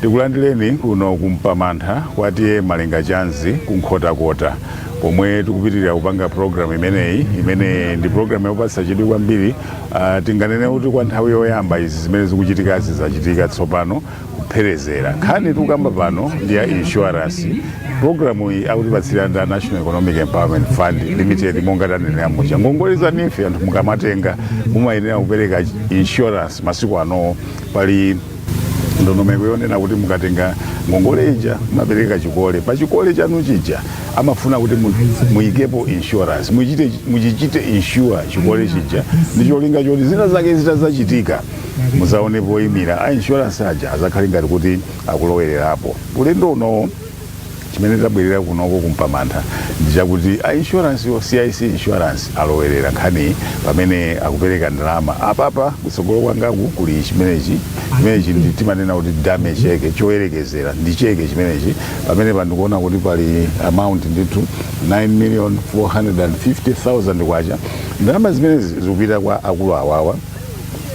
tikulandireni kuno kumpamantha kwa tiye malenga chanzi kunkhotakota pomwe tikupitirira kupanga programu imeneyi imene ndi programu yopatsa chidwi kwambiri uh, tinganene kuti kwa nthawi yoyamba izi zimene zikuchitikazi zachitika tsopano kupherezera nkhani tikukamba pano ndi ya insurance programu iyi akutipatsira ndi a national economic empowerment fund limited monga tanenera muja ngongole zanife anthu mukamatenga mumayenera kupereka insurance masiku anowo pali ndondomeko yonena kuti mukatenga ngongole ija mumapereka chikole pa chikole chanu chija amafuna kuti mu- muyikepo insurance muchite muchichite insure chikole chija ndi cholinga choti zina zake zitazachitika muzaone poyimira a insurance aja azakhale ngati kuti akulowererapo ulendo unowo chimene tabwerera kunoko kumpamantha ndi chakuti a insurance wo cic insurance alowerera nkhani pamene akupereka ndalama apapa kutsogolo kwangaku kuli chimenechi chimenechi ndi timanena kuti dummy cheke choyerekezera ndi cheke chimenechi pamene pandikuona kuti pali amount ndithu 9 million 450,000 kwacha ndalama zimenezi zikupita kwa akulu awawa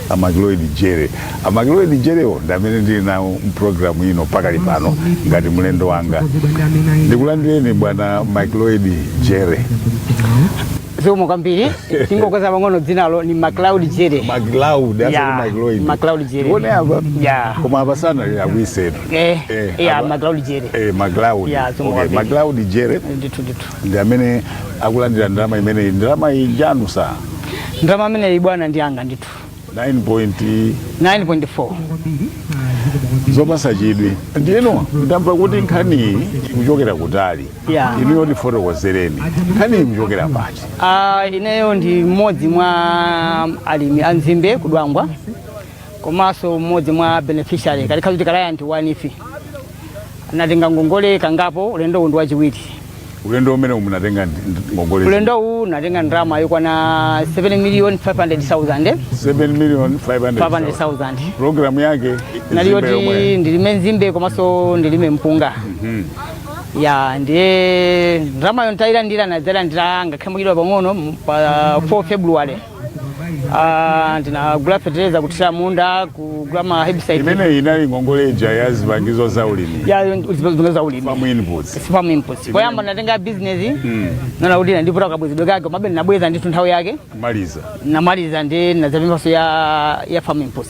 amakiloid jere amakiloid jerewo ndi amene ndili nawo mprogramu ino pakali pano ngati mlendo wanga ndikulandireni bwana makiloid jere zikomo kwambiri tingokonza pang'ono dzinalo ni macloud jere makiloud asati Yeah, makiloid Macloud Jere. tione apa Yeah. koma apa sanalira kuisetu Eh, Eh, yeah, apa- Macloud Jere. eh, makiloud Yeah, zikomo Okay, kwambiri. makiloud jere ndithu ndithu ndi amene akulandira ndalama imeneyi ndalama iyi njanu sa ndalama imeneyi bwana ndi yanga ndithu 9 point 9.4 zopasa chidwi ndiyeno ndamva kuti nkhaniyi ikuchokera kutali Yeah. inuyo tifotokozereni nkhaniyi ikuchokera pati Ah, ineyo ndi mmodzi mwa alimi a nzimbe kudwangwa komanso mmodzi mwa beneficiary kaya kuti client wa neef natenga ngongole kangapo ulendo uwu ndi wachiwiri ulendo umene munatenga ngongole ulendo uwu natenga ndalama yokwana 7 million 500,000 7 million 500,000 program yake nali yoti ndilime nzimbe komanso ndilime mpunga mhm. ya ndiye ndalama yo ntayilandira nadzayilandira ngakhale mochedwa pang'ono pa 4 february Ah, ndinagula fetereza kuthira munda kugula ma herbicide imeneyi inali ngongole ija ya zipangizo za ulimi ya zipangizo za ulimi farm inputs farm inputs poyamba natenga ya business naona kuti inandivuta kabwezedwe kake komabe nabweza ndithu nthawi yake kumaliza namaliza ndi nazapemphaso ya ya farm inputs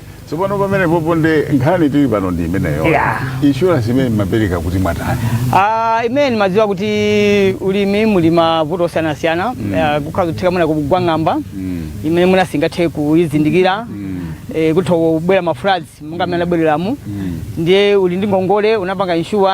Tsopano pamenepopo nde nkhani tili pano ndi imeneyo. Yeah. Insurance imene mumapereka kuti mwatani. Ah, imene ndimadziwa kuti ulimi muli mavuto osiyanasiyana Ah, kukhoza kutheka mwina kugwa ng'amba imene munthu singathe kuyizindikira eh, kutha kubwera mafloods monga amene anabwerawa ndiye uli ndi ngongole unapanga insure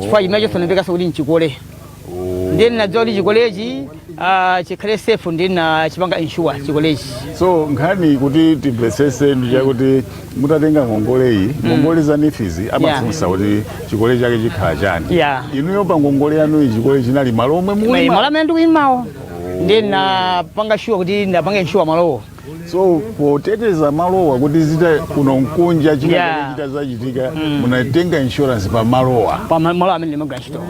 chifukwa chimenecho zinamvekaso kuti nchikole ndiye ndinadziwa kuti chikolechi ah, chikhale safe ndiye ndinachipanga insure chikolechi so nkhani kuti timvetsese ndi yakuti mutatenga ngongole iyi ngongole za NEEF zi mafunsa kuti chikole chake chikhala chani Yeah. inuyo pa ngongole yanu iyi chikole chinali malo omwe mukulima malo amene ndikulimawo ndiye ndinapanga sure kuti ndapanga insure malowo so poteteza malowa kuti zita kuno nkunja chika- Yeah. chita zachitika munatenga insurance pa malowa pa ma- malo amene ndimagwira ntchito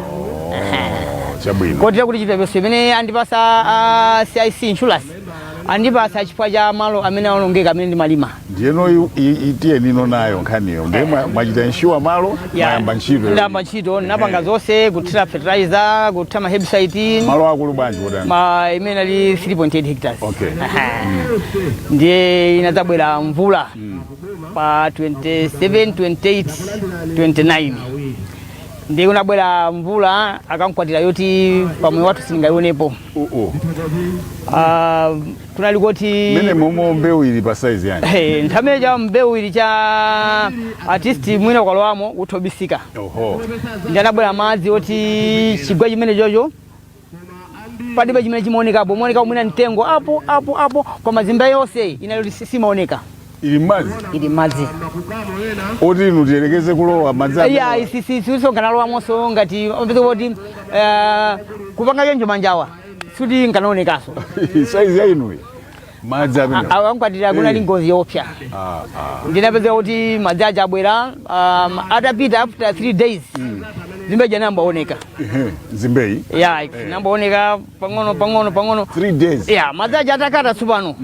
chabwino kotera kuti chipepeso chimene andipasa a cic insurance andipasa chifukwa cha malo amene aonongeka amene ndimalima ndiyeno i- i- tiyeni nayoni nayo nkhaniyo ndiye mwa- mwachita insure malo Yeah. Mwayamba ntchito. ndayamba ntchito ndinapanga zonse kuthira fertilizer kuthira ma herbicide Malo akulu bwanji kotani? malo amene ali 3.8 hectares Okay. Aha. ndiye inadzabwera mvula pa 27 28 29 ndiye kunabwera mvula yamkwatira yoti pamoyo wathu sindingayionepo Uh-uh. Ah, kunali koti mene momo mbeu ili pa size yani hey, nthawi imene ija mbeu ili cha height iyi mwina ukalowamo utha kubisika oho ndiye anabwera madzi oti chigwa chimenecho panalibe chimene chimaonekapo maoneka mwina mtengo apo apo apo koma nzimbe yonse inali simaoneka ili mmadzi ili mmadzi oti inu tiyerekeze kulowa mmadzi amene- iya isisisonganalowamonso ngati pezi kuti eh, kupanga choncho manjawa sikuti akanaonekaso saizi yanuyi madzi amene akankwatira kunali ngozi yoopsa Ah, ah. ndinapeza kuti madzi aja abwera um, atapita after three days nzimbe ija nkuyamba kuoneka Ehe, nzimbe ija nkuyamba kuoneka pang'ono pang'ono pang'ono three days ya madzi aja atakata tsopano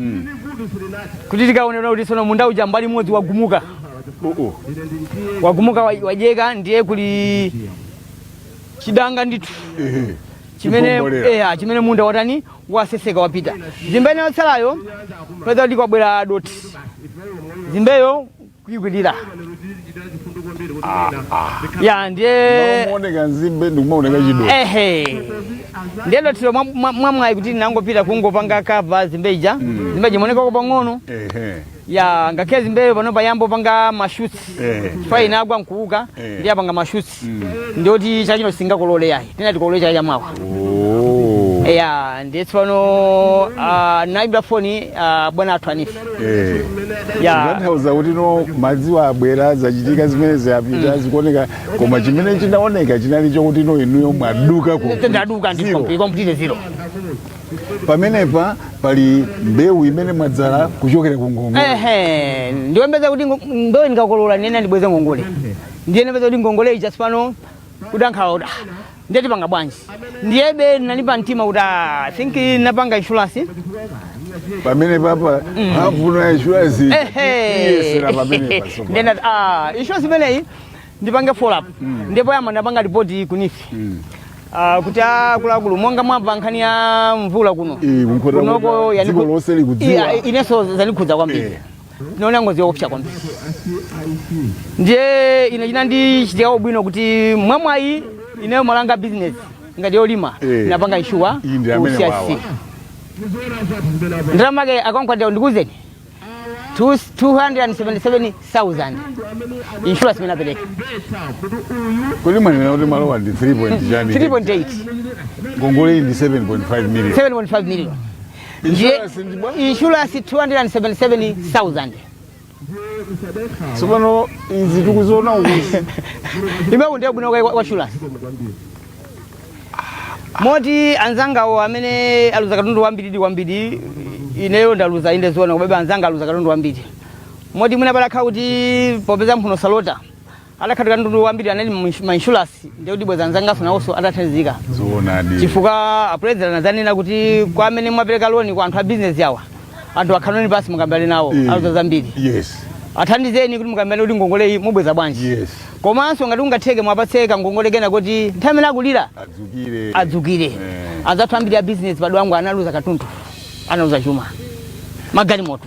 kuti tikaonere kuti sono munda uja mbali imodzi wagumuka Oh, oh. wagumuka wa- wang'ambika ndiye kuli chidanga ndithu Ehe. chimene Chikombolera. eya chimene munda watani waseseka wapita nzimbe ina yotsalayo peza kuti kwabwera dothi nzimbeyo kuyikwirira ya ndiye mmalo nzimbe ndikumaoneka chido ehe ndiye dothilo mwa- mwa- mwamwayi kuti ndinangopita kungopanga cover nzimbe ija nzimbe ija imaonekako pang'ono ehe ya ngakhale nzimbeyo pano yayamba kupanga mashoots Eh. chifukwa inagwa nkuuka Eh. ndiye yapanga mashoots ndoti chaka chino sitingakolole yayi tinati tikolole chaka chamawa ya ndiye tsopano ah, nayimbira foni ah, bwana athu a NEEF ya kutanthauza kuti no madziwa abwera zachitika zimene zapita zikuoneka koma chimene chinaoneka chinali chokuti no inuyo mwaduka ku- ndaduka ndi zero. komple- complete zero pamenepa pali mbewu imene mwadzala kuchokera ku ngongole ehe ndimayembekeza kuti ngo- ndo ndikakolola nena ndibweze ngongole ndiye napeza kuti ngongole ija tsopano kudankhala kuti ah, ndiye tipanga bwanji ndiyebe nali pa mtima kuti ah, i think napanga insurance pamene papa mphamvu ya insurance iyesera pamene paso ndiye ndati ah, insurance imeneyi ndipange follow up ndipo yama ndinapanga ripoti ku NEEF Ah, kuti akuluakulu monga mwamva nkhani ya mvula kuno Eh, ku Nkhotakota kunoko mvula, yani dziko ku- lonse likudziwa. Iya, inenso zanikhudza kwambiri Eh. Tinaona ngozi yoopsa kwambiri, ndiye ine chinandichitika ubwino kuti mwamwayi ineyo malanga business ngati yolima Eh. ndinapanga inshuwa Iyi ndi amene wawa. CIC ndalama yake akankwatira ndikuuzeni 277,000 insurance imene napereka Kodi mwanena kuti malo awa ndi 3 point chani? 3.8 Ngongole iyi ndi 7.5 million. 7.5 million ndiye Insurance ndi bwa- insurance 277000 tsopano izi tikuziona ukuzi imeku ndiye ubwino kwa- kwa insurance moti anzangawo amene aluza katundu wambiridi wambiri ineyo ndaluza inde zoona komabe anzanga aluza katundu wambiri moti mwina pakanakhala kuti popeza mphuno salota atakhala kuti katundu wambiri anali mu inshurasi ndiye kuti bwenzi anzanganso nawonso atathandizika zoonadi chifukwa apulezidenti anazanena kuti kwa amene mwapereka loni kwa anthu a bizinesi awa anthu akhalitseni pansi mukambirane nawo Mm. aluza zambiri yes athandizeni kuti mukambirane kuti ngongoleyi mubweza bwanji yes komanso ngati kungatheke mwapatse kangongole kena kuti nthawi imene akulira adzukenso adzukenso Eh. anzathu ambiri a bizinesi pa Dwangwa analuza katundu analuza chuma magalimoto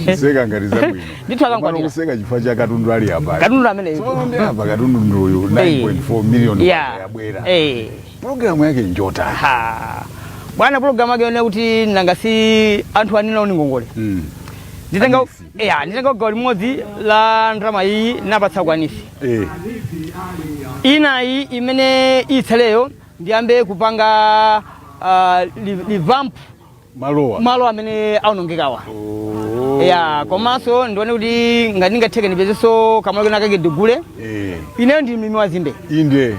kuseka ngati zabwino Ndithu akankwatira. Komano kuseka chifukwa cha katundu ali apa katundu amene Tsopano ndi apa katundu ndi uyu 9.4 million yeah yabwera eh programu yake njotani ha bwana program yake yone kuti nanga si anthu anenawo ndi ngongole Mm. nditenga a NEEF. ya nditenga gawo limodzi la ndalama iyi ndipatsa kwa NEEF Eh, inayi imene itsaleyo ndiyambe kupanga uh, revamp malowa malo amene aonongekawa Oh. ya komanso ndione kuti ngati ndingatheke ndipezenso kamalo kena kake ndigule. Eh, ineyo ndi mlimi wa nzimbe inde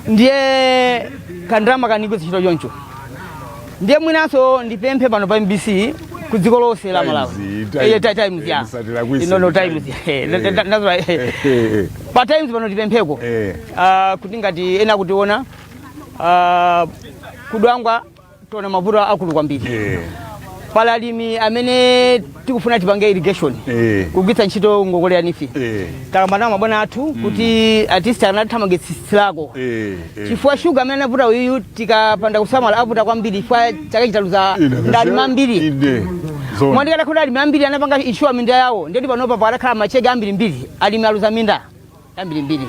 ndiye kandalama kandigwirira ntchito choncho ndiye mwinanso ndipemphe pano pa mbc ku dziko lonse la malawi Times, Times. Eh, Ti- times ya Eh, musatira kwisi, ino no Times. times Eh, Eh. that- that- that's right. Eh, eh, pa times pano tipempheko eh. Ah, kuti ngati ena akutiona Ah, kudwangwa tona mavuto akulu kwambiri Eh, pali alimi amene tikufuna tipange irrigation eh, kugwiritsa ntchito ngongole ya NEEF eh, takambana ndi mabwana athu kuti atisti anathamangitsitsilako eh, eh. chifukwa shuga amene anavuta uyu tikapanda kusamala avuta kwambiri chifukwa chaka chino taluza Ine, nda alimi ambiri ine, zone. mwandikana kuti alimi ambiri anapanga inshuwa minda yawo nde kuti panopa pakadakhala machege ambirimbiri alimi aluza minda ambirimbiri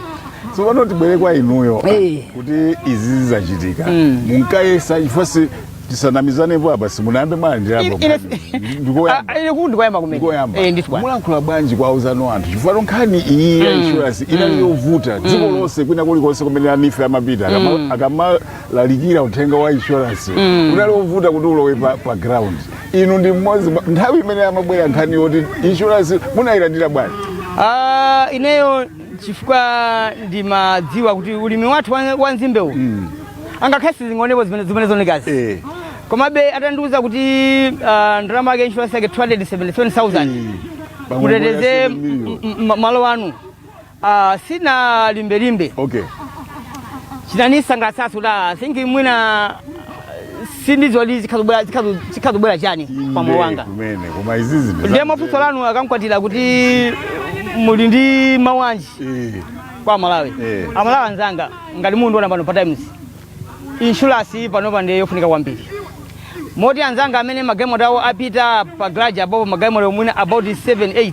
tsopano tibwere kwa inuyo Eh. kuti izi zizachitika Mm. munkayesa chifukwa si tisanamizanepo apa simunayambe mwalandirapo Ine- ine- ndikoyamba Ah, ine kuti ndikoyamba kumene ndikoyamba Eh, ndithu bwana mulankhula bwanji kwa anzanu anthu chifukwa nkhani iyi ya insurance inali yovuta dziko lonse kwina kulikonse kumene a NEEF amapita akama- akamalalikira uthenga wa insurance unali wovuta kuti ulowe pa, pa ground inu ndi mmodzi mwa- nthawi imene amabwera nkhani yoti insurance munayilandira bwanji Ah, ineyo chifukwa ndimadziwa kuti ulimi wathu wa- wa nzimbe uwu angakhale sizinaonekepo zimene zimene zaonekazi Eh. komabe atandiuza kuti ah, ndalama yake insurance yake 277000 muteteze mbola 7 million. m- m- malo anu Ah, sindinalimbelimbe. Okay. Chinanisangalatsanso I think mwina sindidziwa zikadzabwera zikadza- zikadzabwera chani pa moyo wanga. Kumene koma izizi ndi Ndiye mafunso anu akankwatira kuti muli ndi mawu anji Eh. kwa Amalawi. Eh. Amalawi anzanga ngati mukundiona pano pa Times. Insurance panopa ndiye yofunika kwambiri. Moti anzanga amene magalimoto awo apita pa garage apopo magalimoto mwina about 7 8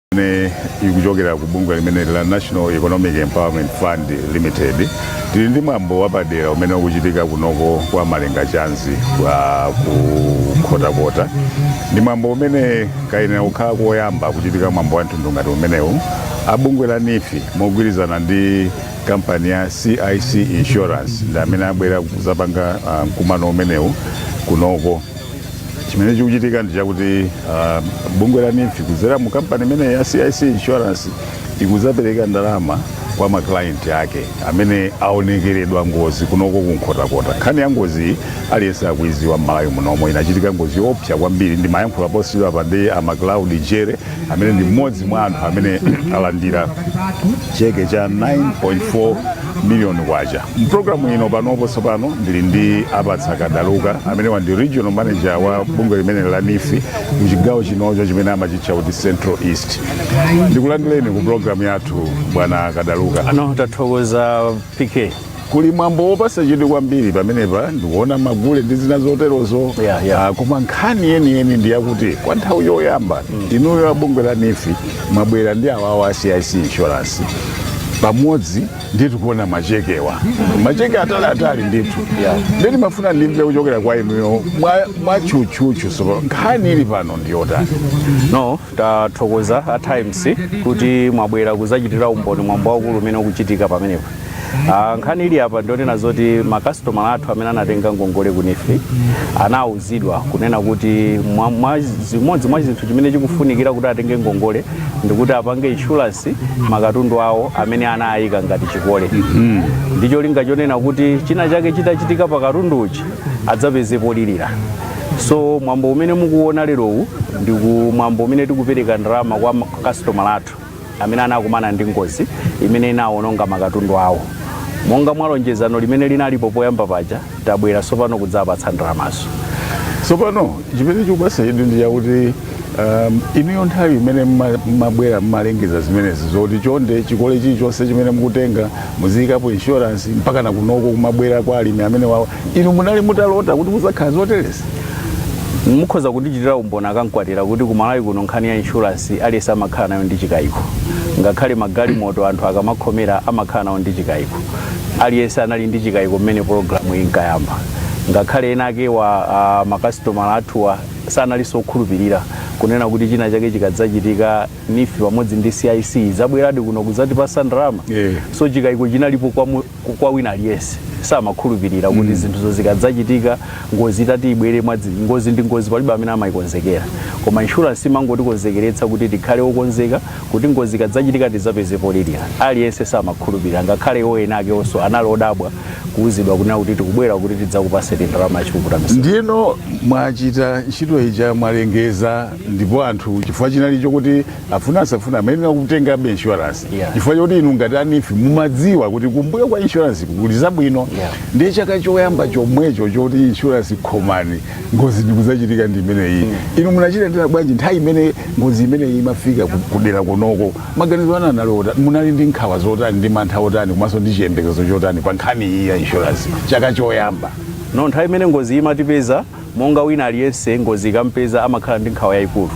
imene ikuchokera ku bungwe limeneli la National Economic Empowerment Fund Limited tili ndi mwambo wapadera umene ukuchitika kunoko kwa Malenga Chanzi ku Nkhotakota ndi mwambo umene kayenera kukhala koyamba kuchitika mwambo wa mtundu ngati umenewu a bungwe la NEEF mogwirizana ndi kampani ya CIC Insurance ndi amene abwera kuzapanga ah, mkumano umenewu kunoko chimene chikuchitika ndi chakuti ah, bungwe la NEEF kudzera mu kampani imeneyi ya cic insurance ikudzapereka ndalama kwa maklayenti ake amene aonekeredwa ngozi kunoko kunkhotakota nkhani ya ngoziyi aliyense akuiziwa m'malawi munomo inachitika ngozi yoopsa kwambiri ndimayankhula posachedwapa ndi a macloud jere amene ndi mmodzi mwa anthu amene alandira cheke cha 9.4 miliyoni kwacha mpulogalamu ino panopo tsopano ndili ndi apatsa kadaluka amenewa ndi regional manager wa bungwe limene la neef ku chigawo chinocho chimene amachitcha kuti central east ndikulandireni ku pulogalamu yathu bwana kadaluka ah no tathokoza pk kuli mwambo wopasa chidwi kwambiri pamenepa ndikuona magule ndi zina zoterozo Yeah, yeah. Ah, koma nkhani yeniyeni ndi yakuti kwa nthawi yoyamba inuyo abungwe la neef mwabwera ndi awawa a cic insurance pamodzi ndithu tikuona machekewa macheke ataliatali ndithu Yeah. nde timafuna ndimve kuchokera kwa inuyo mwa- mwatchutchutchu tsopano nkhani ili pano ndiyotani no tathokoza a times kuti mwabwera kuzachitira umboni mwambo waukulu umene ukuchitika pamenepa Ah, nkhani ili apa ndi yonena zoti makasitomala athu amene anatenga ngongole ku neef anauzidwa kunena kuti mwa- mwa zimodzi mwa zinthu chimene chikufunikira kuti atenge ngongole ndikuti apange inshuransi makatundu awo amene anayika ngati chikole ndi cholinga chonena kuti china chake chitachitika pa katundu uchi adzapezepo polirira so mwambo umene mukuona lerowu ndi ku- mwambo umene tikupereka ndalama kwa makasitomala athu amene anakumana ndi ngozi imene inawononga makatundu awo monga mwa lonjezano limene linalipo poyamba paja tabwera tsopano kudzapatsa ndalamazo tsopano chimene chikupasa chidwi ndi chakuti um, inuyo nthawi imene mma- mmabwera mmalengeza zimenezi zoti chonde chikole chilichonse chimene mukutenga muziyikapo inshuransi mpaka nakunoko kumabwera kwa alimi amenewawa inu munali mutalota kuti muzakhala zoterezi mukhoza kundichitira umboni akamkwatira kuti ku malawi kuno nkhani ya insurance aliyense amakhala nayo ndi chikayiko ngakhale magalimoto anthu akamakhomera amakhala nayo ndi chikayiko aliyense anali ndi chikayiko mmene pulogalamu inkayamba ngakhale enaake wa uh, makasitomala athuwa sanalinso okhulupirira kunena kuti china chake chikadzachitika neef pamodzi ndi cic azabweradi kuno kudzatipasa ndalama Yeah. so chikayiko chinalipo kwa mu- ku- kwa wina aliyense samakhulupirira kuti zinthuzo zikadzachitika ngozi itati ibwere mwadzi ngozi ndi ngozi palibe amene amayikonzekera koma inshuransi imangotikonzekeretsa kuti tikhale okonzeka kuti ngozi ikadzachitika tidzapeze polirira aliyense samakhulupirira ngakhale iwo enaakewonso anali odabwa kuwuzidwa kunena kuti tikubwera kuti tidzakupaseni ndalama yachipukuta misozi ndiyeno mwachita ntchito ija mwalengeza ndipo anthu chifukwa chinali chokuti afuna asafuna amayenera kutengabe insurance Yeah. chifukwa choti inu ngati a neef mumadziwa kuti kumbuyo kwa insurance kuli zabwino Yeah. ndiye chaka choyamba chomwecho choti insurance khomani ngozi ndikuzachitika ndi imeneyi inu munachilandira bwanji nthawi imene ngozi imeneyi imafika ku- kudera kunoko maganizo anu anali otani munali ndi nkhawa zotani ndi mantha otani komanso ndi chiyembekezo chotani pa nkhani iyi ya insurance chaka choyamba no nthawi imene ngozi imatipeza Monga wina aliyense, ngozi ikamupeza amakhala ndi nkhawa yaikulu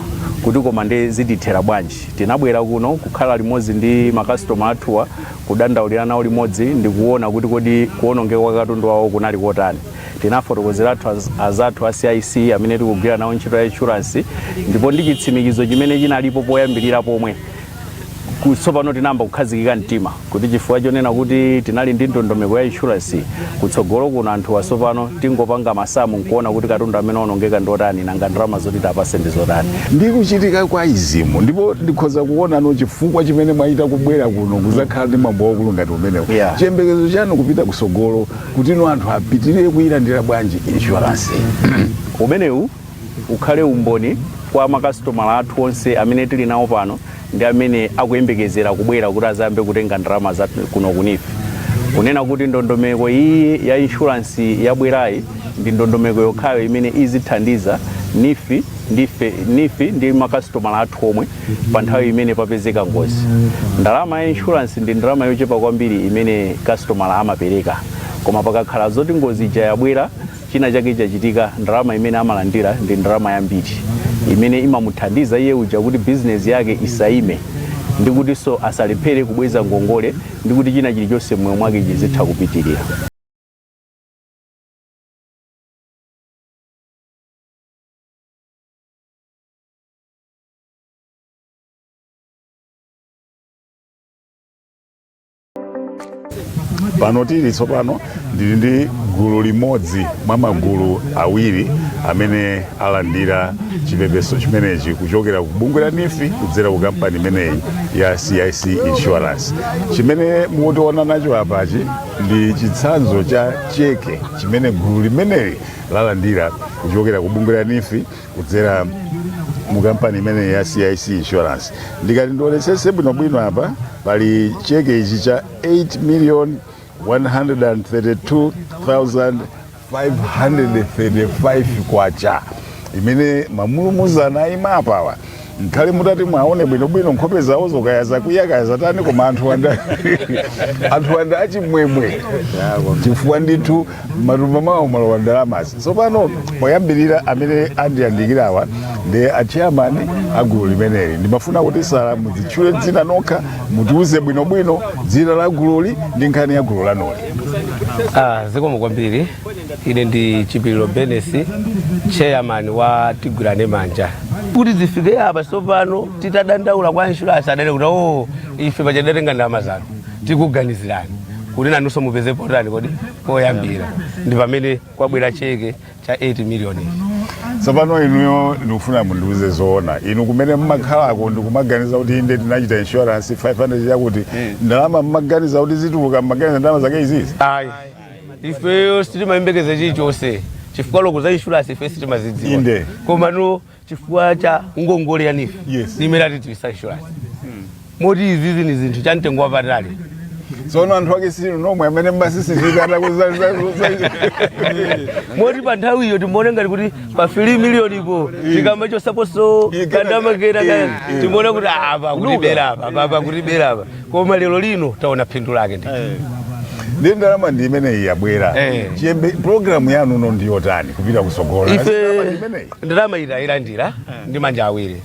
kuti koma nde zitithera bwanji. Tinabwera kuno kukhala limodzi ndi makasitoma athuwa, kudandaulira nawo limodzi ndi kuona kuti kodi kuonongeka kwa katundu wawo kunali kotani. Tinafotokozera anzathu a CIC amene tikugwira nawo ntchito ya inshuransi ndipo ndi chitsimikizo chimene chinalipo poyambirira pomwe, ku- tsopano tinayamba kukhazikika mtima kuti chifukwa chonena kuti tinali ndi ndondomeko ya inshuransi kutsogolo kuno anthu awa sopano tingopanga masamu nkuona kuti katundu amene waonongeka ndiotani nanga ndalama zoti tiwapase ndi zotani ndi kuchitika kwa izi ndipo ndikhoza kuona ndi chifukwa chimene mwachita kubwera kuno kuzakhala ndi mwambo waukulu ngati umenewu chiyembekezo chanu kupita kusogolo kuti no anthu apitirire kuyilandira bwanji inshuransi umenewu ukhale umboni kwa makasitomala athu onse amene tili nawo pano ndi amene akuyembekezera kubwera kuti azayambe kutenga ndalama za kuno ku NEEF kunena kuti ndondomeko iyi ya inshuransi yabwerayi ndi ndondomeko yokhayo imene izithandiza NEEF ndi makasitomala athu omwe pa nthawi imene papezeka ngozi ndalama ya inshuransi ndi ndalama yochepa kwambiri imene kasitomala amapereka koma pakakhala zoti ngozi ija yabwera china chake chachitika, ndalama imene amalandira ndi ndalama yambiri imene imamuthandiza iye uja kuti bizinesi yake isaime ndi kutinso asalephere kubweza ngongole ndi kuti china chilichonse m'moyo mwake chizitha kupitirira. pano tili tsopano ndili ndi gulu limodzi mwa magulu awiri amene alandira chipepeso chimenechi kuchokera ku bungwe la NEEF kudzera ku kampani imeneyi ya CIC insurance chimene mukutionera nacho apachi ndi chitsanzo cha cheke chimene gulu limeneli lalandira kuchokera ku bungwe la NEEF kudzera mu kampani imeneyi ya CIC insurance ndikati ndionetsetse bwinobwino apa pali cheke ichi cha 8 million 132,535 kwacha imene mamulumuzana aima apawa Nkhale mutati mwaona bwinobwino nkhope zawozo kaya zakwiya kaya zatani koma anthuwa nda- anthuwa ndi achimwemwe chifukwa ndithu matumba mwawo mwalowa ndalamazi tsopano woyambirira amene andiyandikirawa ndi atcheyamani a gulu limeneli ndimafuna kuti sala mudzitchule dzina nokha mutiuze bwinobwino dzina la gululi ndi nkhani ya gulu lanoli Ah, zikomo kwambiri ine ndi chipiliro benesi chairman wa tigwirane manja kuti zifike apa tsopano titadandaula kwa insurance adati kuti o ife pachadatenga ndalama zanu tikuganizirani kuti nanunso mupeze potani koti poyambira ndi pamene kwabwera cheke cha 8 million tsopano inuyo ndikufuna mundiuze zoona inu kumene mmakhalako ndikumaganiza kuti inde tinachita insurance 500 yakuti ndalama mmaganiza kuti zituluka mmaganiza ndalama zake izizi ayi ifeyo sitimayembekeza chilichonse chifukwa loko za insurance ife sitimazidziwa Inde. koma no chifukwa cha ngongole ya nifi Yes. ndi imene atidziwitsa insurance moti izizi ni chinthu cha mtengo wapatali tsono anthu ake sinu nomwe amene mmasisizika moti pa nthawi iyo timaone ngati kuti pa 3 miliyoni ipo tikamba chosaposo Ika- kandamakera Eh, eh. timaona kuti apa kutibera apa apa kutibera apa koma lero lino taona phindu lake ndi eh. ndi ndalama ndi imeneyi yabwera eh. chiyembe programu yanu ino ndi yotani kupita kusogola ife ndalama iyi tailandira eh. ndi manja awiri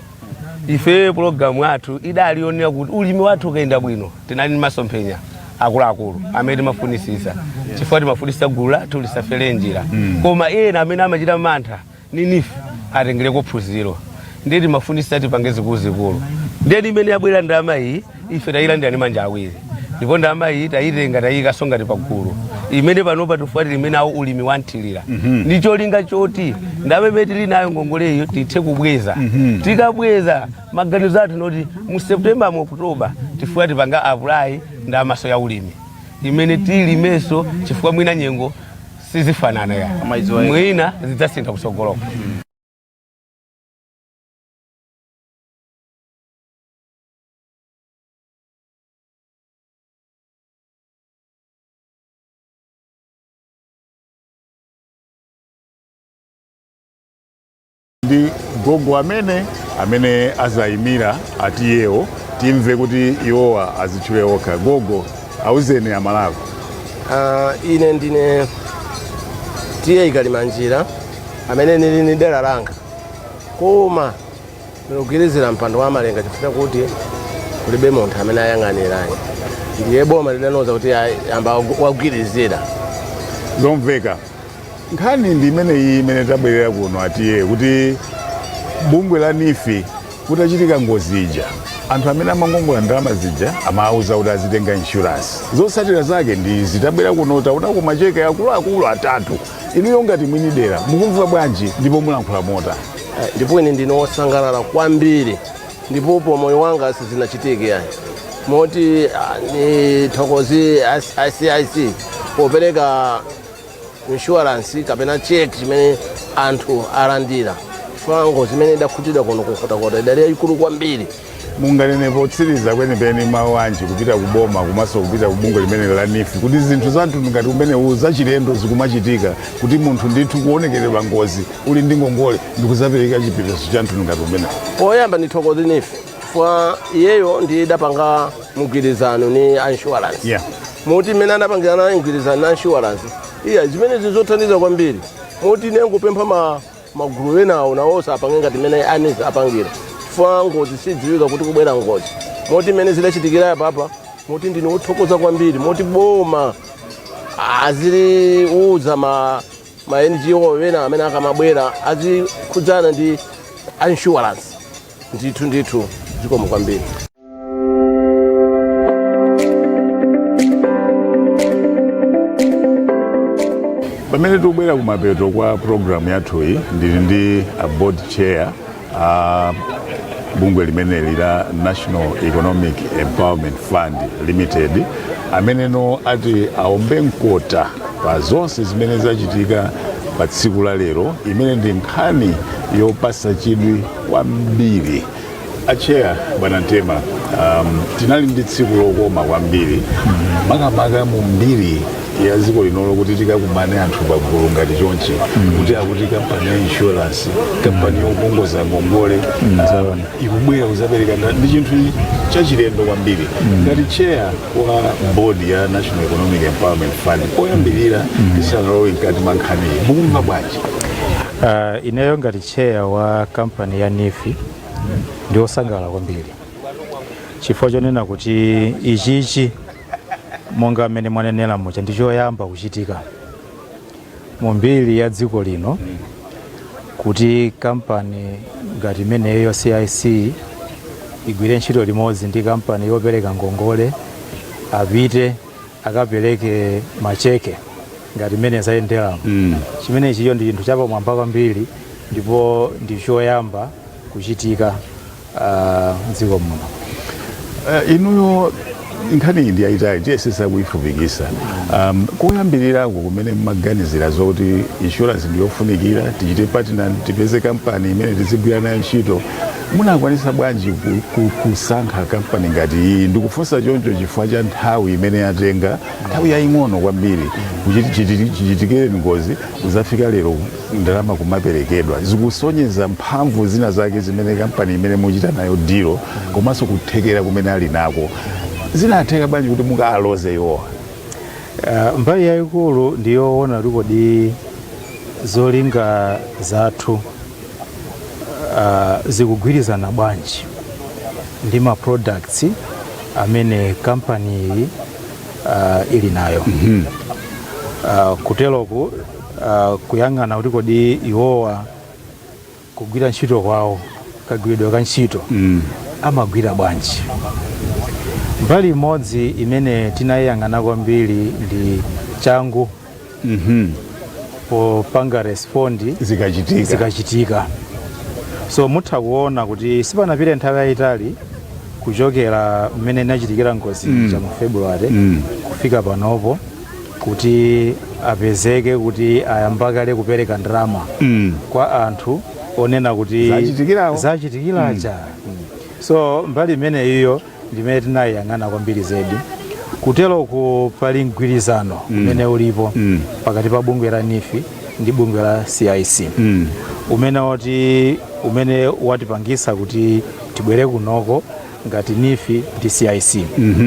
ife programu yathu idali yonena kuti ulimi wathu ukayenda bwino tinali ndi masomphenya akuluakulu amene timafunisisa chifukwa timafunisisa gulu lathu lisafere njira hmm. koma ena amene amachita mantha ni nifi atengereko phunziro ndiye timafunisa tipange zikuluzikulu ndiye mmene yabwera ndalama iyi ife tayilandira ndi manja awiri ndipo ndalama iyi tayitenga tayiyikaso ngati pagulu imene panopa tifuna tilime nawo ulimi wanthirira ndi cholinga choti ndalama imene tili nayo ngongoleyo tithe kubweza tikabweza maganizo athu noti mu september mu october tifuna tikapange apulayi ndalamaso ya ulimi imene tilimeso chifukwa mwina nyengo sizifanana ayi mwina zidzasintha kusogoloko mm. ndi gogo amene amene azayimira a t/a wo timve kuti iwowa azitchule okha gogo auzeni amalawi Ah, ine ndine t/a kalimanjira amene nili ni dera langa koma ndikugwirizira mpando wa malenga chifukwa kuti kulibe munthu amene ayang'anira ayi ndiye boma lidanuza kuti ayi, amba wagwirizira zomveka nkhani ndi imeneyi imene tabwerera kuno a t/a kuti bungwe la nifi kutachitika ngozi ija anthu amene amakongola ndalama zija amawauza kuti azitenga inshuransi zotsatira zake ndi izi tabwera kuno taonako macheke akuluakulu atatu inuyo ngati mwini dera mukumva bwanji ndipo mulankhula motani Eh, ndipo ine ndine wosangalala kwambiri ndipo pa moyo wanga sizinachitike ayi moti ah, nithokoze CIC popereka insurance kapena cheki chimene anthu alandira chifukwa ngozi imene idakhutidwa kuno kunkhotakota idali yayikulu kwambiri munganene potsiriza kwenikweni mawu anji kupita ku boma komanso kupita ku bungwe limeneli la NEEF kuti zinthu za mtundu ngati umenewu zachilendo zikumachitika kuti munthu ndithu kuwonongekeredwa ngozi uli ndi ngongole ndikuzapereka chipepeso cha mtundu ngati umenewu poyamba nithokoze NEEF chifukwa iyeyo ndiye idapanga mgwirizano ni a insurance moti imene anapangirana mgwirizano ni a insurance iya zimenezi nzothandiza kwambiri moti ine ngupempha magulu enawo nawonso apange ngati mmene a NEEF apangira chifukwa ngozi sidziwika kuti kubwera ngozi moti imene zidachitikira yapapa moti ndine wothokoza kwambiri moti boma aziliuza ma NGO enawo amene akamabwera azikhudzana ndi insurance ndithu ndithu zikomo kwambiri pamene tikubwera kumapeto kwa programu yathuyi ndili ndi a board chair a bungwe limeneli la national economic empowerment fund limited amene ati aombe mkota pa zonse zimene zachitika pa tsiku la lero imene ndi nkhani yopasa chidwi kwambiri a chair bwana Mtema um, tinali ndi tsiku lokoma kwambiri makamaka mu mbiri ya dziko linolo kuti tikakumane anthu pagulu ngati chonchi kuti akuti kampani ya insurance kampani yokongoza ngongole uh, ikubwera kuzapereka nda- ndi chinthu chachilendo kwambiri ngati chair wa board ya national economic empowerment fund poyambirira tisanalowe mkati mwa nkhaniyi mukumva bwanji Ah, ineyo ngati Chair wa kampani ya NEEF ndiosangalala kwambiri chifukwa chonena kuti ichichi monga mmene mwanenera muja ndi choyamba kuchitika mu mbiri ya dziko lino kuti kampani ngati imeneyo CIC igwire ntchito limodzi ndi kampani yopereka ngongole apite akapereke macheke ngati mmene zayendera mm. chimenechiyo ndi chinthu chapamwamba kwambiri ndipo ndi choyamba kuchitika ah, mdziko muno Eh, inuyo nkhani iyi ndiyayitali tiyesesa kuyifupikisa um, koyambiriraku kumene mmaganizira zoti insurance ndiyofunikira tichite partner tipeze kampani imene tizigwira nayo ntchito Munakwanitsa bwanji kusankha kampani ngati iyi? Ndikufunsa choncho chifukwa cha nthawi imene yatenga, nthawi yaying'ono kwambiri chichitikire ngozi kuzafika lero ndalama kumaperekedwa. Zikusonyeza mphamvu zina zake zimene kampani imene muchita nayo deal komanso kuthekera kumene ali nako. Zinatheka bwanji kuti mukawaloze iwowa? Mbali yayikulu ndiyowona kuti kodi zolinga zathu. uh, zikugwirizana bwanji ndi ma products amene kampani iyi uh, ili nayo mm -hmm. uh, kuteroku uh, kuyang'ana kuti kodi iwowa kugwira ntchito kwawo kagwiridwe ka ntchito mm. amagwira bwanji mbali imodzi imene tinayiyang'ana kwambiri ndi changu mhm. popanga respondi zikachitika so mutha kuona kuti sipanapite nthawi yayitali kuchokera mmene inachitikira ngozi mm. cha mu february mm. kufika panopo kuti apezeke kuti ayamba kale kupereka ndalama mm. kwa anthu onena kuti zachitikiracha mm. so mbali imene iyo ndi imene tinayiyang'ana kwambiri zedi kuteroku pali mgwirizano umene ulipo pakati pa bungwe la NEEF ndi bungwe la cic umene wati umene watipangisa kuti tibwere kunoko ngati NEEF ndi cic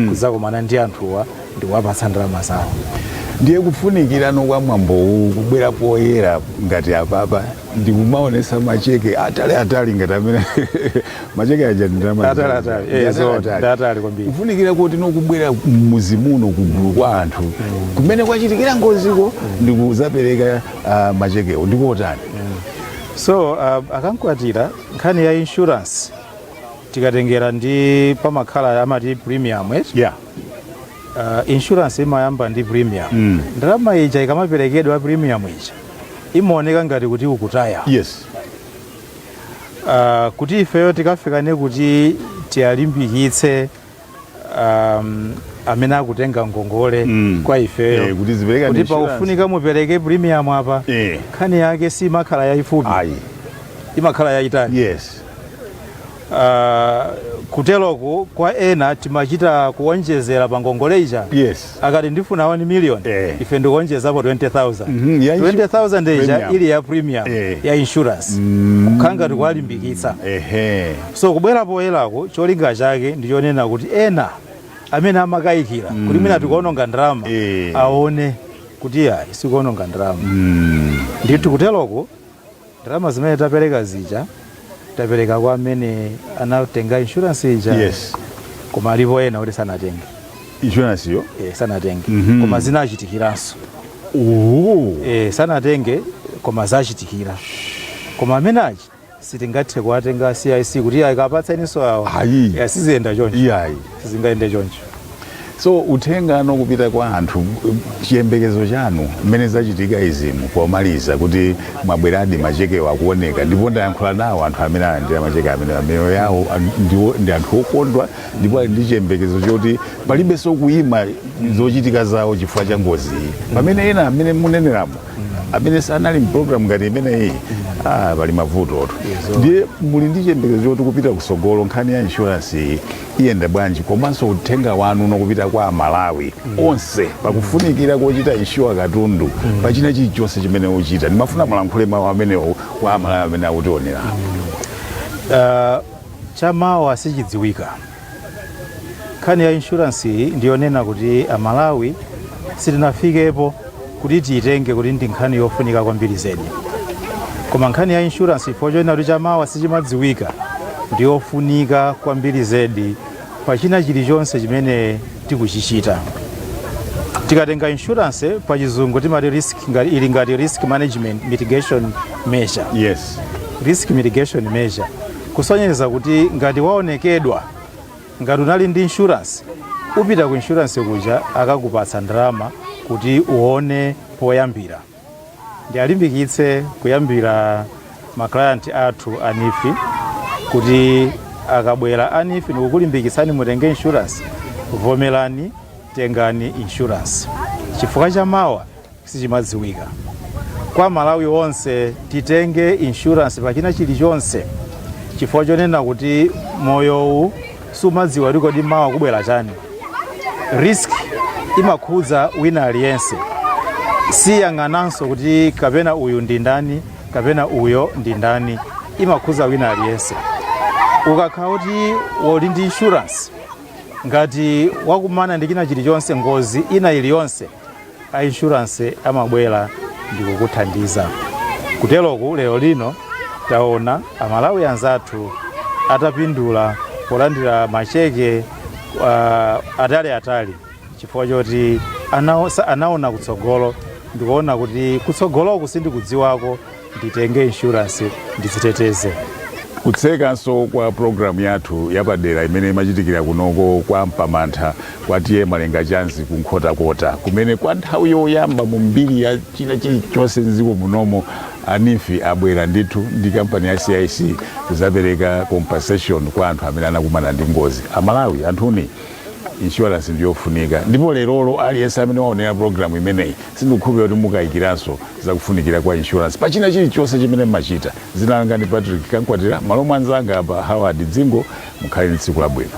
kudzakumana ndi anthuwa ndi kuwapatsa ndalama zawo ndiye kufunikirano kwa mwambowu kubwera poyera ngati apapa ndikumaonesa macheke atali atali ngati amene macheke aja atali atali kwambiri kufunikira kotino kubwera mmuzi muno kugulu kwa anthu mm. kumene kwachitikira ngoziko ndikuzapereka uh, machekewo ndikotani mm. so uh, akankwatira nkhani ya insurance tikatengera ndi pamakhala amati premium eh? yeah. Uh, insurance imayamba ndi premium mm. ndalama ija ikamaperekedwa premium ija imaoneka ngati kuti ukutaya yes uh, kuti ifeyo tikafikane kuti tiwalimbikitse um, amene akutenga ngongole mm. kwa ifeyo eh, kuti pakufunika mupereke premium apa eh. nkhani yake si imakhala yayifupi imakhala yayitali yes Uh, kuteloku kwa ena timachita kuonjezera pa ngongole ija yes. akati ndifuna 1 million eh. ife ndikuonjezapo 20000 mm -hmm. 20000 ija ili ya premium eh. ya insurance mm. kukhala ngati kuwalimbikitsa eh. so kubwera poyerako cholinga chake ndichonena kuti ena amene amakayikira mm. kuti mwina tikuononga ndalama eh. aone kuti iyayi sikuononga ndalama mm. ndithu kuteloku Ndalama zimene tapereka zija tapereka kwa amene anatenga insurance ija Yes. koma alipo ena kuti sanatenge insurance yo eh, sanatenge Mhm. koma zinawachitikiranso Ooh. eh, sanatenge koma zawachitikira koma amene achi sitingathe kuwatenga cic kuti akapatseninso awo Ayi. Eh, siziyenda choncho iyayi sizingayende choncho so uthenga wanu kupita kwa anthu chiyembekezo chanu mmene zachitika izimu pomaliza kuti mwabweradi machekewo akuoneka ndipo ndayankhula nawo anthu amene alandira macheke amene miyoyo yawo an- ndiwo- ndi anthu okondwa ndipo ali ndi chiyembekezo choti palibenso kuima zochitika zawo chifukwa cha ngozi iyi pamene ena amene muneneramo amene sanali mpulogalamu ngati imeneyi ah, pali mavuto oto ndiye muli ndi chiyembekezo choti kupita kusogolo nkhani ya inshuransi iyi iyenda bwanji komanso uthenga wanu wopita kwa amalawi onse pakufunikira kochita inshuwa katundu pachina chilichonse chimene akuchita ndimafuna mulankhule mawu amenewo kwa amalawi amene akutionera Ah, chamawa sichidziwika nkhani ya inshuransi iyi ndiyonena kuti amalawi sitinafikepo kuti tiitenge kuti ndi nkhani yofunika kwambiri zedi koma nkhani ya insurance chifukwa chonena kuti chamawa sichimadziwika ndi yofunika kwambiri zedi pa china chilichonse chimene tikuchichita tikatenga insurance pa chizungu timati risk ngati- ili ngati risk management mitigation measure yes risk mitigation measure kusonyeza kuti ngati waonongekedwa Ngati unali ndi insurance upita ku insurance kuja akakupatsa ndalama kuti uone poyambira. Ndialimbikitse kuyambira ma client athu a NEEF kuti akabwera a NEEF ndikukulimbikitsani mutenge insurance, vomerani tengani insurance chifukwa cha mawa sichimadziwika kwa amalawi onse titenge insurance pa china chilichonse chifukwa chonena kuti moyowu sumadziwa kuti kodi mawa kubwera chani risk imakhudza wina aliyense siyang'ananso kuti kapena uyu ndi ndani kapena uyo ndi ndani imakhudza wina aliyense ukakhala kuti uli ndi insurance ngati wakumana ndi china chilichonse ngozi ina iliyonse a insurance amabwera ndikukuthandiza. Kuteroku lero lino taona a Malawi anzathu atapindula polandira macheke uh, atali atali chifukwa choti anaosa- anaona kutsogolo ndikuona kuti kutsogoloku sindikudziwako nditenge insurance ndidziteteze. Kutsekanso kwa pulogalamu yathu yapadera imene imachitikira kunoko kwa Mpamantha kwa TA Malenga Chanzi ku Nkhotakota kumene kwa nthawi yoyamba mu mbiri ya china chilichonse m'dziko munomo a NEEF abwera ndithu ndi kampani ya CIC kuzapereka compensation kwa anthu amene anakumana ndi ngozi. Amalawi anthuni insurance ndiyofunika ndipo lerolo aliyense amene waonera programu imeneyi sindikukhulupirira kuti mukayikiranso zakufunikira kwa insurance pachina chilichonse chimene mumachita zina langa ndi patrick kankwatira m'malo mwa mnzanga apa howard dzingo mukhale ndi tsiku labwino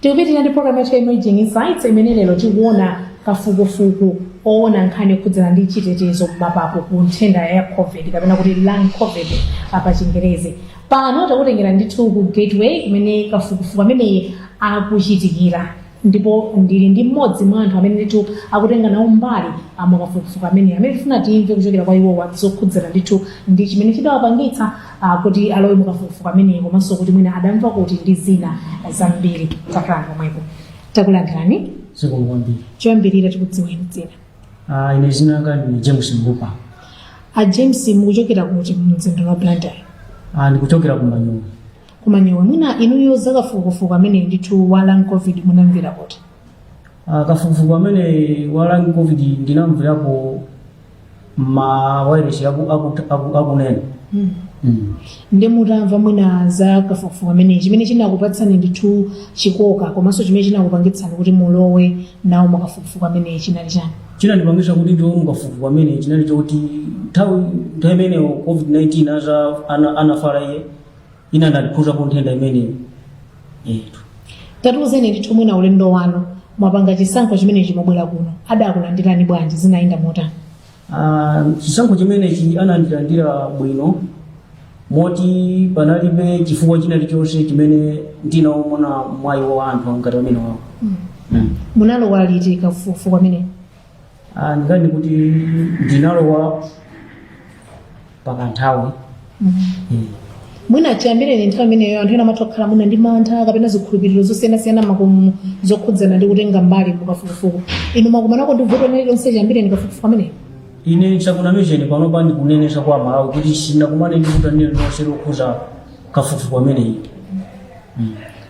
tikupitirira ndi programu yathu ya emerging insights imene lero tikuona kafukufuku oona nkhani yokhudzana ndi chitetezo m'mapapo ku nthenda ya covid kapena kuti lung covid pa chingerezi pano takutengera ndithu ku gateway kumene kafukufuku ameneyi akuchitikira ndipo ndili ndi mmodzi mwa anthu amene ndithu akutenga nawo mbali mukafukufuku ameneyu amene tifuna timve kuchokera kwa iwowa zokhudzana ndithu ndi chimene chidawapangitsa ah, kuti alowe mukafukufuku ameneyo komanso kuti mwina adamva kuti ndi zina zambiri takhalani pomwepo takulandirani zikomo kwambiri choyambirira tikudziweni dzina Ah, ine zina langa ndi james mbupa a james mukuchokera kuti mumzinda wa blantyre Ah, ndikuchokera ku manyowe Ku Manyowe mwina inuyo za kafukufuku ameneyi ndithu wa lung covid munamvera kuti? Ah, kafukufuku amene wa lung covid ndinamverako ma wailesi aku- aku- aku- akunena Mm. Mm. Nde mutamva mwina za kafukufuku ameneyi chimene chinakupatsani ndithu chikoka komanso chimene chinakupangitsani kuti mulowe nawo mukafukufuku ameneyi chinali chani? chinandipangisa kuti ndilowe mukafukufuku amene chinali choti nthawi nthawi imeneyo covid-19 aza ana- anafala iye ine inandikhuzapo nthenda imeneyi eti tatiuzeni ndithu mwina ulendo wanu mwapanga chisankho chimenechi mwabwera kuno adakulandirani bwanji zinayenda motani Ah, chisankho chimenechi anandilandira bwino moti panalibe chifukwa china chilichonse chimene ndinaona mwayi wa anthu ngati amenewawo munalowa liti kafukufuku amene Ah, ndikati kuti ndinalowa pakanthawi Eh. mwina chiyambireni nthawi imeneyo anthu ena amatha kukhala mwina ndi mantha kapena zikhulupiriro zosiyanasiyana makamaka zokhudzana ndi kutenga mbali mu kafukufuku inu mwakumanako ndi vuto lina lililonse chiyambireni kafukufuku ameneyo ine sindikunamizeni panopa ndikunenesa kwa amalawi kuti sinakumane ndi vuto lililonse lokhuza kafukufuku ameneyi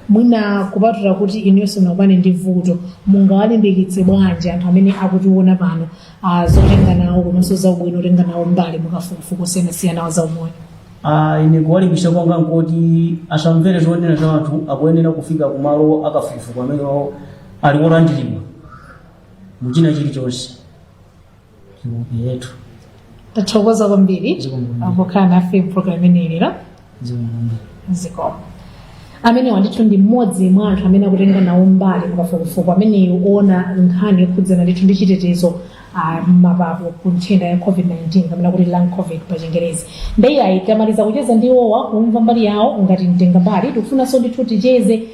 mwina kupatula kuti inuyo simunakumane ndi vuto mungawalimbikitse bwanji anthu amene akutiona pano ah, zotenga nawo komanso za ubwino otenga nawo mbali mukafukufuku osiyanasiyana wa zaumoyo Ah, ine kuwalimbikitsa kwanga nkuti asamvere zonena za anthu akuyenera kufika kumalo akafukufuku amene ali olandiridwa muchina chilichonse yetu tathokoza kwambiri Zikomo. pokhala nafe pa program imeneyi lero zikomo amenewa ndithu ndi mmodzi mwa anthu amene akutenga nawo mbali mukafukufuku ameneyi oona nkhani yokhudzana ndithu ndi chitetezo ah, m'mapapo ku nthenda ya covid-19 kapena kuti lung covid pa chingerezi ndiye ayi tamaliza kucheza ndi iwowa kumva mbali yawo ngati mtenga mbali tikufunanso ndithu ticheze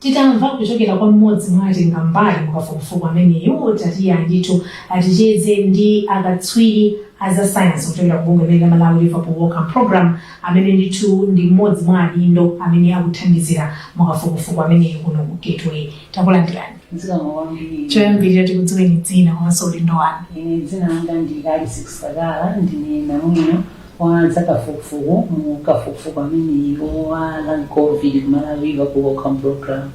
Titamva kuchokera kwa m'modzi mwa atengambali mu kafukufuku ameneyu, tatiyeni ndithu ticheze ndi akatswiri a za sayansi kuchokera ku bungwe la Malawi Liverpool Wellcome Program amene ndithu ndi m'modzi mwa adindo amene akuthandizira mu kafukufuku ameneyu kuno ku Gateway. Takulandirani. Zikomo kwambiri. Choyambirira tikudziweni dzina komanso udindo wanu. Ine dzina langa ndi Alice Kusakala, ndine namwino Wa zakafukufuku mu kafukufuku ameneyu wa lung covid ku Malawi Liverpool Wellcome program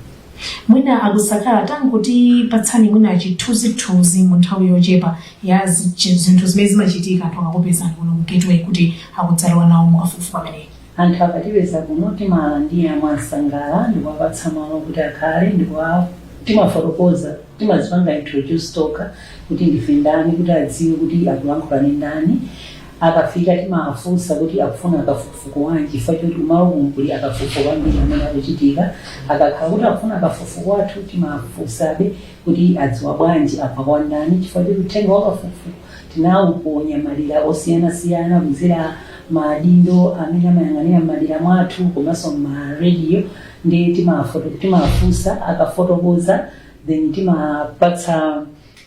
mwina akusakala tangutipatsani mwina chithunzithunzi mu nthawi yochepa ya zi- chi- zinthu zimene zimachitika anthu akakupezani kuno ku Gateway kuti adzalowe nawo mukafukufuku ameneyi anthu akatipeza kuno timawalandira mwansangala ndikuwapatsa malo kuti akhale ndikuwa timafotokoza timazipanga introduce tokha kuti ndife ndani kuti adziwe kuti akulankhula ndi ndani Akafika timawafunsa kuti akufuna kafukufuku wanji chifukwa choti kumalokunu kuli akafukufuku ambiri amene akuchitika. Akakhala kuti akufuna kafukufuku wathu timawafunsabe kuti adziwa bwanji amva kwa ndani chifukwa choti uthenga wa kafukufuku tinawuponya madera osiyanasiyana kudzera mwa adindo amene amayang'anira m'madera mwathu komanso m'ma radio ndiye timawafunsa akafotokoza then timawapatsa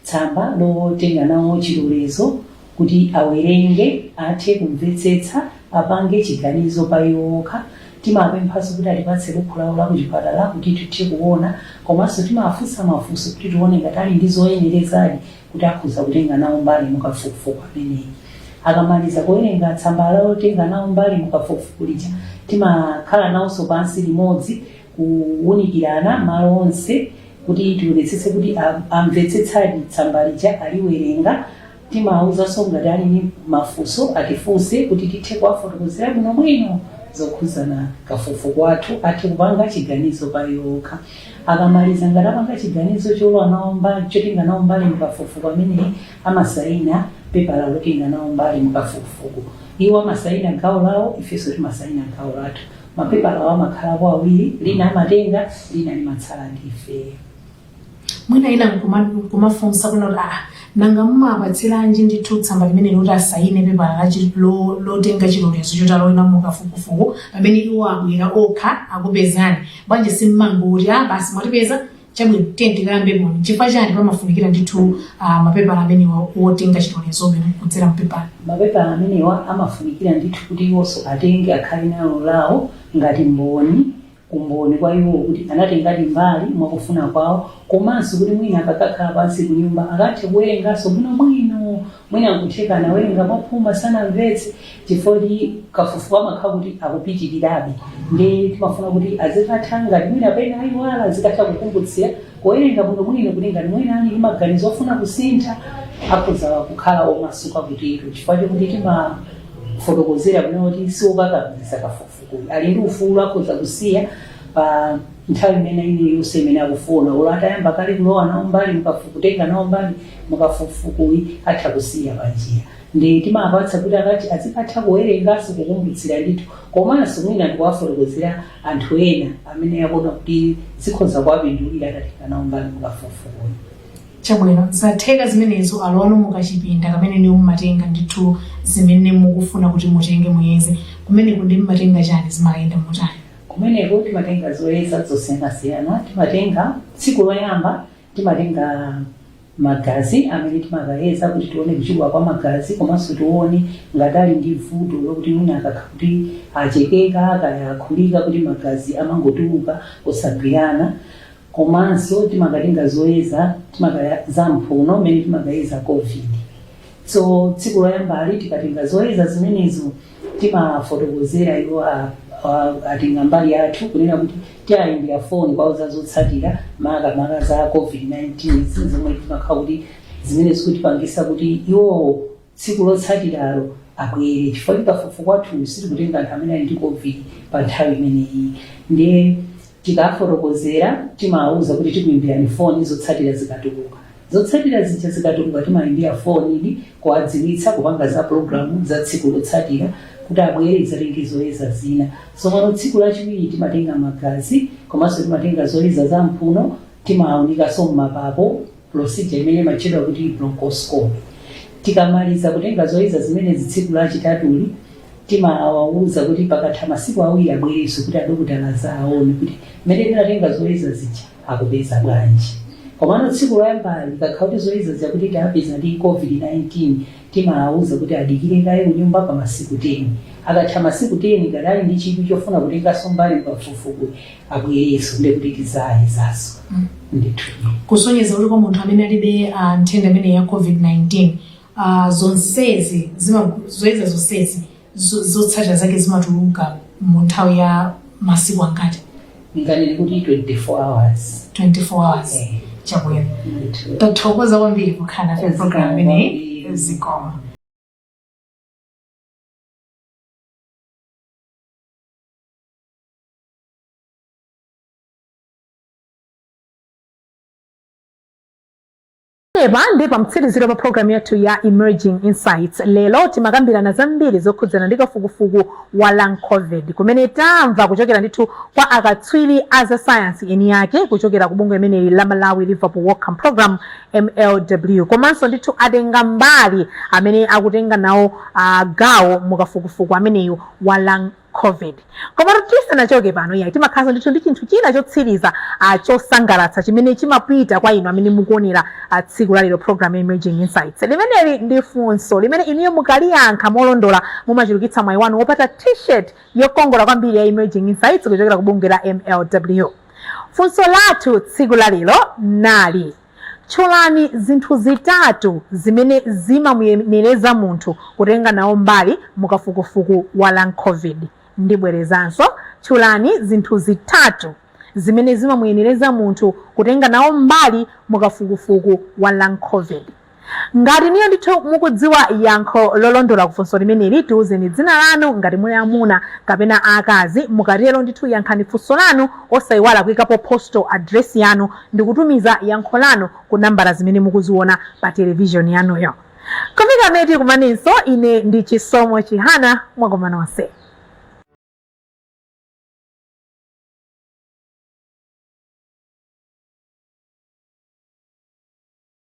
Tsamba lotenga nawo chilolezo kuti awerenge, athe kumvetsetsa, apange chiganizo pa iwo okha. Timawapemphanso kuti atipatse bukhu lawo la kuchipatala kuti tithe kuona komanso timawafunsa mafunso kuti tione ngati ali ndi zoyenerezadi kuti akhoza kutenga nawo mbali mukafukufuku ameneyi. Akamaliza kuwerenga tsamba lotenga nawo mbali mukafukufuku lija, timakhala nawonso pansi limodzi. kuwunikirana malo onse kuti tionetsetse kuti amvetsetsadi tsamba lija aliwerenga. Timawawuzanso ngati ali ndi mafunso atifunse kuti tithe kuwafotokozera bwinobwino zokhudzana kafukufuku wathu athe kupanga chiganizo pa iwo okha. Akamaliza ngati apanga chiganizo cholowa nawo mbali chotenga nawo mbali mu kafukufuku ameneyi amasayina pepala lotenga nawo mbali mu kafukufuku. Iwo amasayina gawo lawo ifenso timasayina gawo lathu. Mapepalawa amakhalapo awiri, lina amatenga, lina limatsala ndi ifeyo. Mwina ena nkumafunsa kunena kuti ah, nanga mumawapatsiranji ndithu tsamba limene loti asayine pepala la chi- lo- lotenga chilolezo choti alowe nawo mu kafukufuku pamene iwo abwera okha akupezani bwanji simmangoti ah, basi mwatipeza Chabwino, tiyeni tikayambepo. Chifukwa chani pamafunikira ndithu uh, mapepala amenewa wotenga chilolezo chimene kudzera mpepala? Mapepala amenewa amafunikira ndithu kuti iwonso atenge akhale nalo lawo ngati mboni umboni kwa iwo kuti anatengadi mbali mwakufuna kwawo komanso kuti mwina akakakhala pansi kunyumba akathe kuwerenganso bwinobwino Mwina nkutheka anawerenga mwaphuma sanamvetse chifukwa choti kafukufuku amakhala kuti akupitirirabe nde timafuna kuti azikatha ngati mwina pena ayiwala azikatha kukumbutsira kuwerenga bwinobwino kuti ngati mwina ali ndi maganizo ofuna kusintha akhoza kukhala omasuka kutero chifukwa chokuti timafotokozera kunena kuti siwokakamiza kafukufukuyu ali ndi ufulu akhoza kusiya pa nthawi imene iliyonse imene akufuna olo atayamba kale kulowa nawo mbali mukafu- kutenga nawo mbali mukafukufukuyi atha kusiya panjira nde timawapatsa kuti akati azikatha kuwerenganso kukumbutsira ndithu komanso mwina ndikuwafotokozera anthu ena amene akuona kuti zikhoza kuwapindulira atatenga nawo mbali mukafukufukuyi chabwino zatheka zimenezo alowano mukachipinda kamene inuyo mumatenga ndithu zimene mukufuna kuti mutenge muyeze kumeneko ndi mumatenga chani zimayenda motani kumeneko timatenga zoyeza zosiyanasiyana timatenga tsiku loyamba timatenga magazi amene timakayeza kuti tione kuchuluka kwa magazi komanso tione ngati ali ndi vuto lokuti mwina akakhala kuti achekeka kaya akhulika kuti magazi amangotuluka osagwirana komanso timakatenga zoyeza timakayeza mphuno mmene timakayeza covid So tsiku loyambali tikatenga zoyeza zimenezo timafotokozera iwo a- a- otenga mbali athu kunena kuti tiayimbira foni kuwauza zotsatira makamaka za covid-19 ndi zomwe timakhala kuti zimene zikutipangisa kuti iwowo tsiku lotsatiralo abwere chifukwa kafukufuku wathu sitikutenga anthu amene ali ndi covid pa nthawi imeneyi ndiye Tikawafotokozera, timawauza kuti tikuimbirani foni zotsatira zikatuluka. Zotsatira zija zikatuluka, timawaimbira fonidi kuwadziwitsa, kupanga za pulogalamu za tsiku lotsatira kuti abwere tidzatenge zoyeza zina. Tsopano tsiku lachiwiri timatenga magazi komanso timatenga zoyeza za m'mphuno, timaunikanso m'mapapo. procedure imene imatchedwa kuti bronchoscopy. Tikamaliza kutenga zoyeza zimenezi tsiku lachitatuli, timawawuza kuti pakatha masiku awiri abwerenso kuti adokotala adzaawone kuti mmene tinatenga zoyeza zija akupeza bwanji. Komano tsiku loyambali likakhala kuti zoyeza zija kuti tawapeza ndi COVID-19, Timawauza kuti adikire kaye kunyumba pa masiku 10. Akatha masiku 10 akadali ndi chidwi chofuna kutenganso mbali m'kafukufukuyu abwerenso ndiye kuti tidzayezanso. Ndithudi. Kusonyeza kuti kwa munthu amene alibe ah, nthenda imene ya COVID-19 ah, zonsezi zima- zoyeza zonsezi zo- zotsatira zake zimatuluka mu nthawi ya masiku angati nganene kuti 24 hours 24 hours Eh, chabwino ndithu. tathokoza kwambiri kukhala nafe program imeneyi. Zikomo Pamenepa ndi pamtsiriziro pa programu yathu ya Emerging Insights. Lero timakambirana zambiri zokhudzana ndi kafukufuku wa long covid kumene tamva kuchokera ndithu kwa akatswiri a za sayansi eni yake kuchokera ku bungwe limeneli la Malawi Liverpool Wellcome Program MLW komanso ndithu atenga mbali amene akutenga nawo ah, gawo mu kafukufuku ameneyu wa long covid komatu tisanachoke pano yayi timakhalanso ndithu ndi chinthu china chotsiriza ah, chosangalatsa chimene chimapita kwa inu amene mukuonera ah, tsiku lalero program ya emerging insights limeneli ndi funso limene inuyo mukaliyankha molondola mumachulukitsa mwayi wanu wopata t-shirt yokongola kwambiri ya emerging insights kuchokera ku bungwe la mlw funso lathu tsiku lalero nali Tchulani zinthu zitatu zimene zimamuyenereza munthu kutenga nawo mbali mu kafukufuku wa Long Covid. Ndibwerezanso, Tchulani zinthu zitatu zimene zimamuyenereza munthu kutenga nawo mbali mu kafukufuku wa Lang Covid. Ngati inuyo ndithu mukudziwa yankho lolondola ku funso limeneli, tiuzeni dzina lanu, ngati muli amuna kapena akazi. Mukatero ndithu yankhani funso lanu osaiwala kuikapo postal address yanu ndi kutumiza yankho lanu ku nambala zimene mukuziona pa television yanuyo. Kufika pamene tikumanenso, ine ndi Chisomo Chihana. Mwakoma nonse.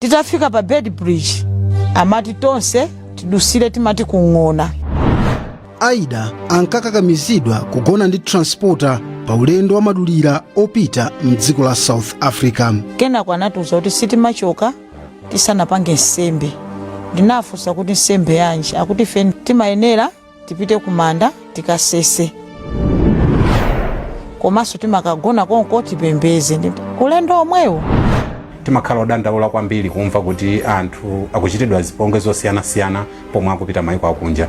titafika pa Beitbridge amati tonse tidutsire tumadzi kuli ng'ona aida ankakakamizidwa kugona ndi transporter pa ulendo wamadulira opita mdziko la south africa kenako anatiuza kuti sitimachoka tisanapange nsembe ndinafunsa kuti nsembe yanji akuti ife timayenera tipite kumanda tikasese komanso timakagona konko tipembedze ulendo omwewo timakhala odandaula kwambiri kumva kuti anthu akuchitidwa zipongwe zosiyanasiyana pomwe akupita maiko akunja